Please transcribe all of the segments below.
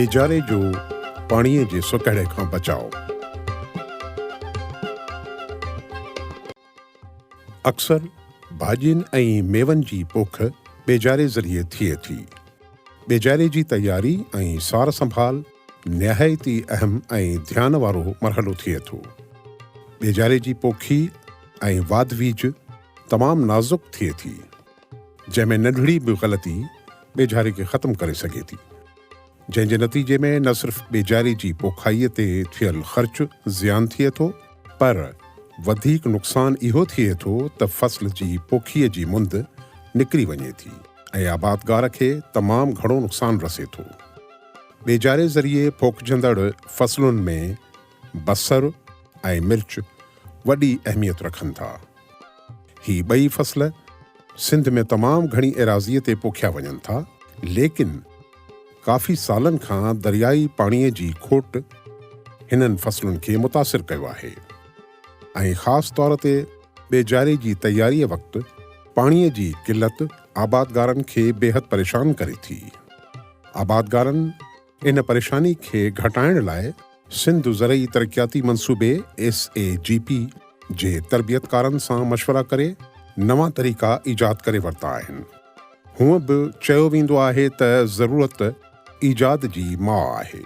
ايجاري جو پاڻيء جي سڪهڙي کان بچاء. اڪثر ڀاڄين ۽ ميون جي پوک ٻيجاري ذريعي ٿئي ٿي. ٻيجاري جي تياري ۽ سار سنڀال نهايت ئي اهم ۽ ڌيان وارو مرحلو ٿئي ٿو. ٻيجاري جي پوکي ۽ واڌ ويجهه تمام نازڪ ٿئي ٿي. جنهن ۾ ننڍڙي به غلطي ٻيجاري کي ختم ڪري سگهي ٿي، جنهن جي نتيجي ۾ نه صرف ٻيجاري جي پوکائي تي ٿيل خرچ زيان ٿئي ٿو پر وڌيڪ نقصان اهو ٿئي ٿو ته فصل جي پوکيء جي مند نڪري وڃي ٿي ۽ آبادگار کي تمام گهڻو نقصان رسي ٿو. ٻيجاري ذريعي پوکجندڙ فصلن ۾ بصر ۽ مرچ وڏي اهميت رکن ٿا. هي ٻئي فصل سنڌ ۾ تمام گهڻي ايراضيء تي پوکيا وڃن ٿا، ليڪن ڪافي سالن کان دريائي پاڻيء جي کوٽ هنن فصلن کي متاثر ڪيو آهي ۽ خاص طور تي ٻيجاري جي تياريء وقت پاڻيء جي قلت آبادگارن کي بيحد پريشان ڪري ٿي. آبادگارن. ان پريشاني کي گهٽائڻ لاء سنڌ زرعي ترقياتي منصوبي، ايس اي جي پي، جي تربيتڪارن سان مشورا ڪري نوان طريقا ايجاد ڪري ورتا آهن. هونء به چيو ويندو آهي ته ضرورت ايجاد جي ماء آهي.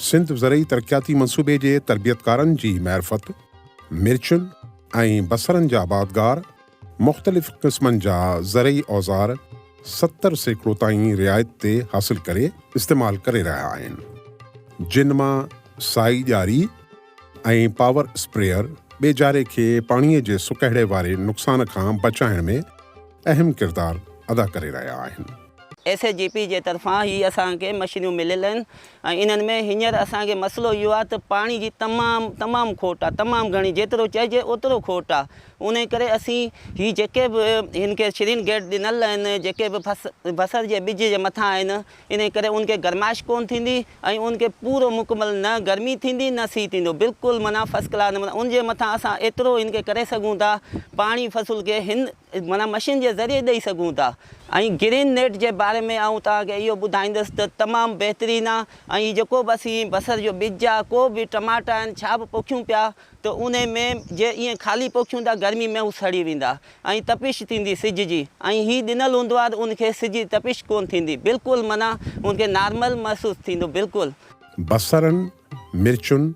سنڌ زرعي ترقياتي منصوبي جي تربيتڪارن جي معرفت مرچن ۽ بصرن جا باغگار مختلف قسمن جا زرعي اوزار ستر سيڪڙو تائين رعايت تي حاصل ڪري استعمال ڪري رهيا آهن جن مان سائي ڄاري ۽ پاور اسپريئر ٻيجاري کي پاڻي جي سڪهڙي واري نقصان کان بچائڻ ۾ اهم ڪردار ادا ڪري رهيا آهن. ايس اي جي پي جي طرفان هي اسان کي مشينيون مليل آهن ۽ انهن ۾ هينئر اسان کي مسئلو اهو آهي ته پاڻي جي تمام تمام کوٽ آهي تمام گهڻي جيترو چئجي اوترو کوٽ آهي انهيء ڪري اسين هي جيڪي به هن کي شرين گيٽ ڏنل آهن، جيڪي به بصر جي ٻج جي مٿان آهن، انهيء ڪري ان کي گرمائش ڪونه ٿيندي ۽ ان کي پورو مڪمل نه گرمي ٿيندي نه سيء ٿيندو، بلڪل معنيٰ فرسٽ ڪلاس نموني ان جي مٿان اسان ايترو هن کي ڪري سگهون ٿا، پاڻي فصل کي هن معنيٰ مشين جي ذريعي ڏئي سگهون ٿا. ۽ گرين نيٽ جي باري ۾ آئون توهان کي اهو ٻڌائيندس ته تمام بهترين آهي ۽ هي جيڪو به اسين بصر جو ٻج آهي ڪو به ٽماٽا آهن ڇا به پوکيون پيا، ته انهي ۾ جي ائين خالي پوکيون ته گرمي ۾ هو سڙي ويندا ۽ تپش ٿيندي سج جي ۽ هي ڏنل هوندو آهي ته ان کي سج جي تپش ڪونه ٿيندي بلڪل معنيٰ ان کي نارمل محسوس ٿيندو بلڪل. بصرن، مرچن،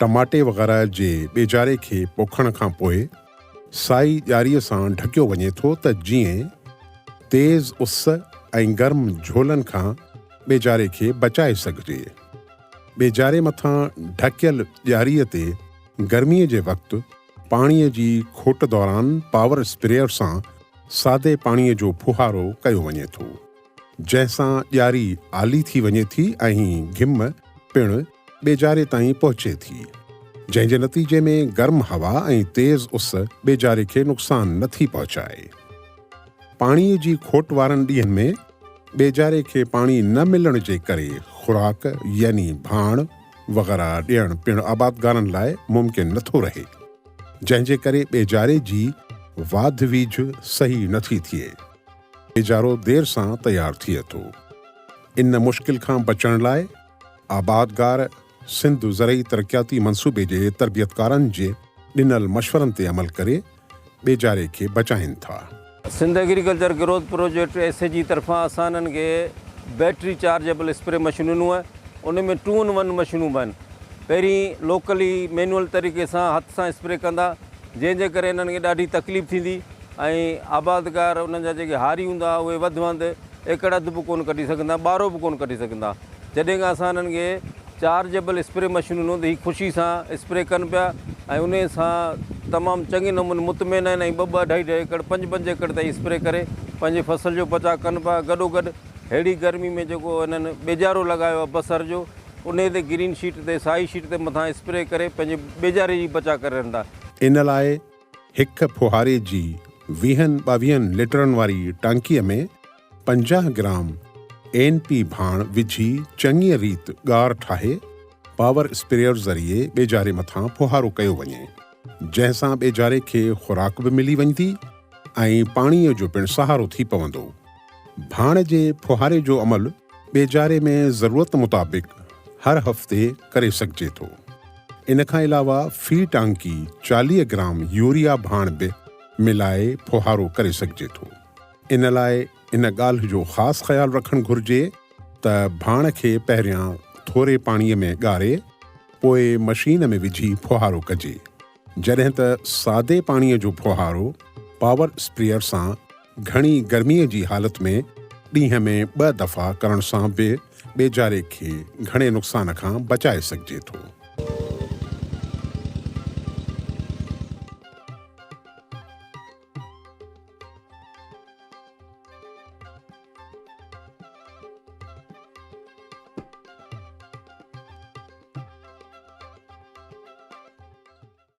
ٽماٽي وغيره جي ٻيجاري کي پوکڻ کان پوء سائي ڄاري سان ڍڪيو وڃي ٿو ته جيئن تيز اس ۽ گرم جهولن کان ٻيجاري کي بچائي سگهجي. ٻيجاري مٿان ڍڪيل ڄاري تي گرمي جي وقت پاڻي جي کوٽ دوران پاور اسپريئر سان سادي پاڻي جو ڦوهارو ڪيو وڃي ٿو، جنهن سان ڄاري آلي ٿي وڃي ٿي ۽ گهم پڻ ٻيجاري تائين پهچي ٿي، جنهن جي نتيجي ۾ گرم هوا ۽ تيز اس ٻيجاري کي نقصان نه ٿي پهچائي. پاڻي جي کوٽ وارن ڏينهن ۾ ٻيجاري کي پاڻي نه ملڻ جي ڪري خوراڪ يعني ڀاڻ وغيره ڏيڻ پڻ آبادگارن لاء ممڪن نٿو رهي، جنهن جي ڪري ٻيجاري جي واڌ ويجهه صحيح نٿي ٿئي. ٻيجارو دير سان تيار ٿئي ٿو. ان مشڪل کان بچڻ لاء آبادگار سنڌ زرعي ترقياتي منصوبي جي تربيتڪارن جي ڏنل مشورن تي عمل ڪري ٻيجاري کي بچائين ٿا. Sindh agriculture growth project, S A G, طرفان اسانن کي بيٽري چارجيبل اسپري مشينون ۽ ان ۾ ٽو ان ون مشينون به آهن. پهرين لوڪلي مينوئل طريقي سان هٿ سان اسپري ڪندا جنهن جي ڪري انهن کي ڏاڍي تڪليف ٿيندي ۽ آبادگار انهن جا جيڪي هاري هوندا اهي وڌ وند ايڪڙ اڌ به ڪونه ڪڍي سگهندا، ٻارو به ڪونه ڪڍي سگهندا. جڏهن کان اسان هنن کي چارجبل اسپري مشين ڏنو ته هي خوشي سان اسپري ڪن پيا ۽ انهي سان تمام چڱي نموني مطمئن آهن ۽ ٻه ٻه اڍائي اڍائي ايڪڙ پنج پنج ايڪڙ تائين اسپري ڪري پنهنجي فصل جو بچاء ڪن پيا گڏوگڏ ههڙي گرمي ۾ جيڪو هنن ٻيجارو لڳايو آهي بصر جو انهي تي گرين شيٽ تي سائي شيٽ تي مٿان اسپري ڪري پنهنجي ٻيجاري جي بچاء ڪري رهندا. ان لاء هڪ ڦوهاري جي ويهن ٻاويهن ليٽرن واري ٽانڪيء ۾ پنجاهه گرام اين پي ڀاڻ وجهي چڱيء ريت ڳار ٺاهي پاور اسپريئر ذريعي ٻيجاري مٿان ڦوهارو ڪيو وڃي جنهن سان ٻيجاري کي خوراڪ به ملي وڃدي ۽ پاڻيء جو پڻ سهارو ٿي پوندو. ڀاڻ جي ڦوهاري جو عمل ٻيجاري ۾ ضرورت مطابق هر هفتي ڪري سگهجي ٿو. ان کان علاوه في ٽانڪي چاليهه گرام يوريا ڀاڻ به ملائي ڦوهارو ڪري سگهجي ٿو. ان لاء ان ڳالهه جو خاص خيال رکڻ گهرجي ته ڀاڻ کي پهريان ٿوري پاڻي ۾ ڳاري پوء مشين ۾ وجهي ڦوهارو ڪجي. جڏهن ته سادي پاڻيء جو ڦوهارو پاور اسپريئر سان گهڻي گرميء جي حالت ۾ ڏينهن ۾ ٻه دفعا ڪرڻ سان به ٻيجاري کي گهڻي نقصان کان بچائي سگهجي ٿو.